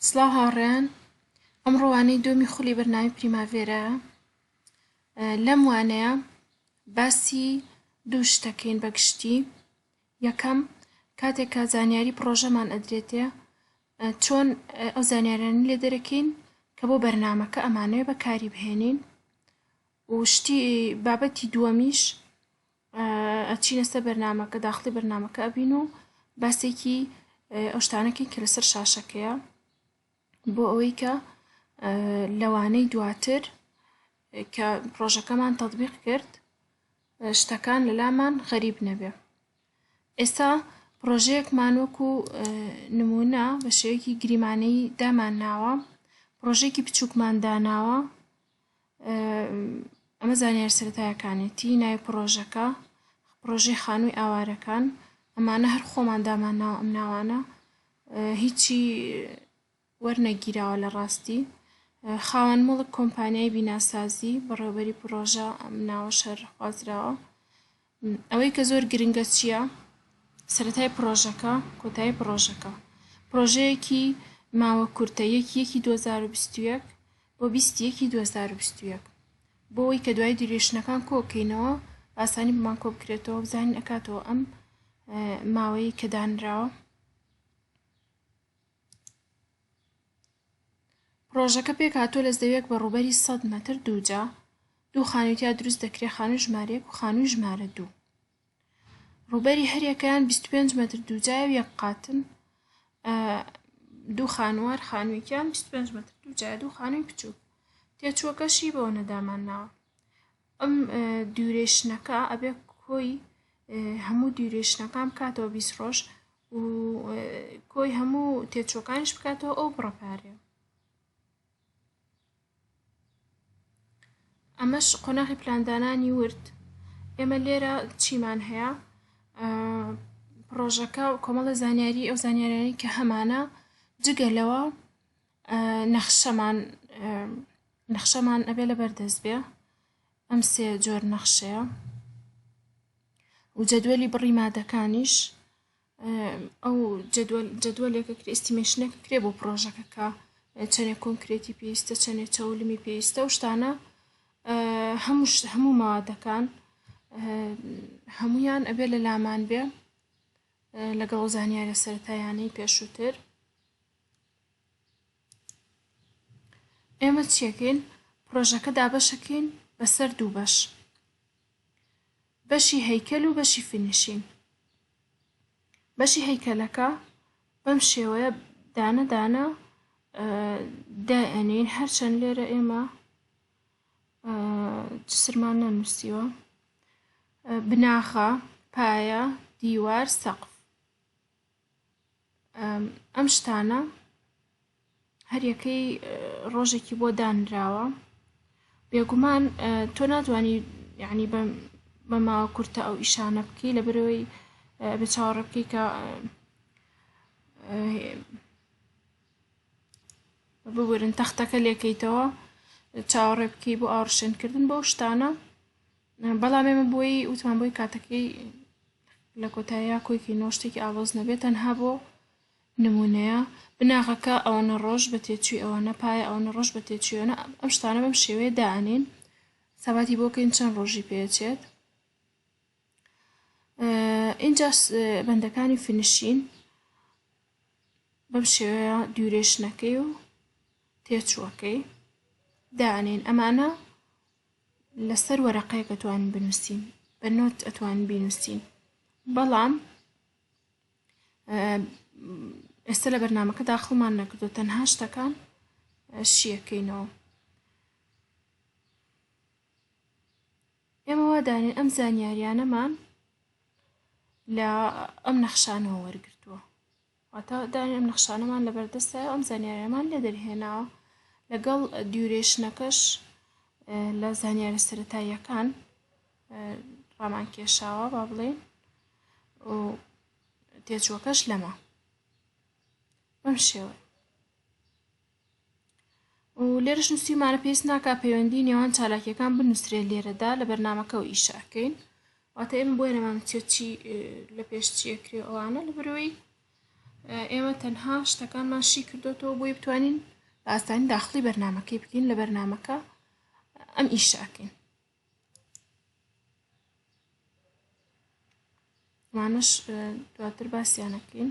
سڵاو هاوڕێیان ئەمڕۆ وانەی دومی خولی بەرنامی پریماڤێرا لەم وانەیە باسی دوو شتەکەین بەگشتی یەکەم کاتێک کە زانیاری پڕۆژەمان ئەدرێتێ چۆن ئەو زانیارانی لێ دەرەکەین کە بۆ بەرنمەکە ئەمانەوێ بەکاری بهێنین و شتی بابەتی دووەمیش ئەچینە سەر بەرنامەکە داخڵی بەرنامەکە ئەبین و باسێکی ئەو شتانەکەی کە لەسەر شاشەکەیە بۆ ئەوەی کە لەوانەی دواتر کە پرۆژەکەمان تطبیق کرد شتەکان لەلامان غەریب نەبێ ئێستا پرۆژەیەکمان وەکو نمونە بە شێوەیەکی گریمانەی دامان ناوە پرۆژێکی بچووکمان داناوە ئەمە زانیارە سەرەتایەکانێتی ناوی پڕۆژەکە پڕۆژەی خانووی ئاوارەکان ئەمانە هەر خۆمان دامان ناو ئەم ناوانە هیچی وەرنەگیراوە لە ڕاستی خاوەن مڵک کۆمپانیای بیناسازی بەڕێوبەری پرۆژە ئەم ناوە شەر خوازراوە ئەوەی کە زۆر گرنگە چییە؟ سەرەتای پڕۆژەکە، کۆتایی پڕۆژەکە. پڕۆژەیەکی ماوە کورتە، یەکی یەکی دوو هەزار و بیست و یەک بۆ بیست یەکی دوو هەزار و بیست و یەک. بۆ ئەوەی کە دوایی دیورەیشنەکان کۆ بکەینەوە، بە ئاسانی بۆمان کۆ بکرێتەوە و بزانین ئەکاتەوە ئەم ماوەیەی کە دانراوە. پڕۆژەکە پێکهاتووە لە زەویەک بە ڕووبەری سەد مەتر دووجا دوو خانووی تیا دروست دەکرێت خانووی ژمارەیەک و خانووی ژمارە دوو ڕووبەری هەریەکەیان 25 مەتر دووجای و یەک قاتن دوو خانوار خانوویکیان 25 مەتر دووجای دوو خانووی بچووک تێچووەکەشی بەوە نەدامان ناوە ئەم دیورێشنەکە ئەبێ کۆی هەموو دیورێشنەکان بکاتەوە بیست ڕۆژ و کۆی هەموو تێچۆکانش بکاتەوە ئەو بڕە پارەیە ئەمەش قۆناغی پلاندانانی ورد ئێمە لێرە چیمان هەیە پرۆژەکە و کۆمەڵە زانیاری ئەو زانیارانی کە هەمانە جگە لەوە نەخشەمان نەخشەمان ئەبێ لە بەردەست بێ ئەم سێ جۆر نەخشەیە و جەدوەلی بڕی مادەکانیش ئەو جەدوەلێکە کرێ ئستیمێشنێکە کرێ بۆ پرۆژەکەکە چەنێ کۆنکرێتی پێویستە چەنێ چەولمی پێویستە و شتانە هەموو هەموو مادەکان هەمویان ئەبێ لە لامان بێ لەگەڵ زانیارە سەرەتایانەی پێشووتر ئێمە چیەکەین پڕۆژەکە دابەشەکەین بەسەر دوو بەش بەشی هەیکەل و بەشی فینیشین بەشی هەیکەلەکە بەم شێوەیە دانە دانە دائەنین هەرچەند لێرە ئێمە سرمان نەنووسیوە بناخە پایە دیوار سەقف ئەم شتانە هەریەکەی ڕۆژێکی بۆ دانراوە بێگومان تۆ ناتوانانی یعنی بە بە ماوە کورتە ئەو ئیشانە بکەی لە برەوەی بە چاوەڕێ بکەی کە ببورن تەختەکە لێکەیتەوە چاوەڕێ بکەی بۆ ئاڕشێنکردن بەو شتانە بەڵام ئێمە بۆی وتمان بۆی کاتەکەی لە کۆتاییا کۆیکی نۆ شتێکی ئاڵۆز نەبێت تەنها بۆ نمونەیە بناغەکە ئەوەنە ڕۆژ بە تێچوی ئەوەنە پایە ئەوەنە ڕۆژ بە تێچویەنە ئەم شتانە بەم شێوەیە دانین سەباتی بۆکەین چەند ڕۆژی پێچێت اینجا بەندەکانی فنشین بەم شێوەیە دیورێشنەکەی و تێچووەکەی دانین ئەمانە لەسەر وەرەقەیەک ئەتوانن بنووسین بە نۆت ئەتوانن بینووسین بەڵام ئێستا لە بەرنمەکە داخڵمان نەکردو تەنها شتەکان شیەکەینەوە ئێمە وادانێن ئەم زانیاریانەمان لە ئەم نەخشانەوە وەرگتووە واتە دانی ئەم نەخشانەمان لەبەردەستە ئەم زانیاریەمان لێ دەرهێناوە لەگەڵ دیورێشنەکەش لە زانیارە سەتاییەکان ڕامان کێشاوە با بڵێن و تێچووەکەش لەمە بەم شێوە و لێرەش نووسیمانە پێویست ناکا پەیوەندی نێوان چالاکیەکان بنووسرێت لێرەدا لە بەرنمەکە و ئیشەکەین واتە ئێمە بۆیە نەمان چی لە پێش چیە کرێ ئەوانە لە برەوەی ئێمە تەنها شتەکانمان شی کردوەوە بۆی بتوانین بە ئاسانی داخلی بەرنمەکەی بکەین لە بەرنمەکە ئەم ئیشەکەین ئەمانەش دواتر باسییانەکەین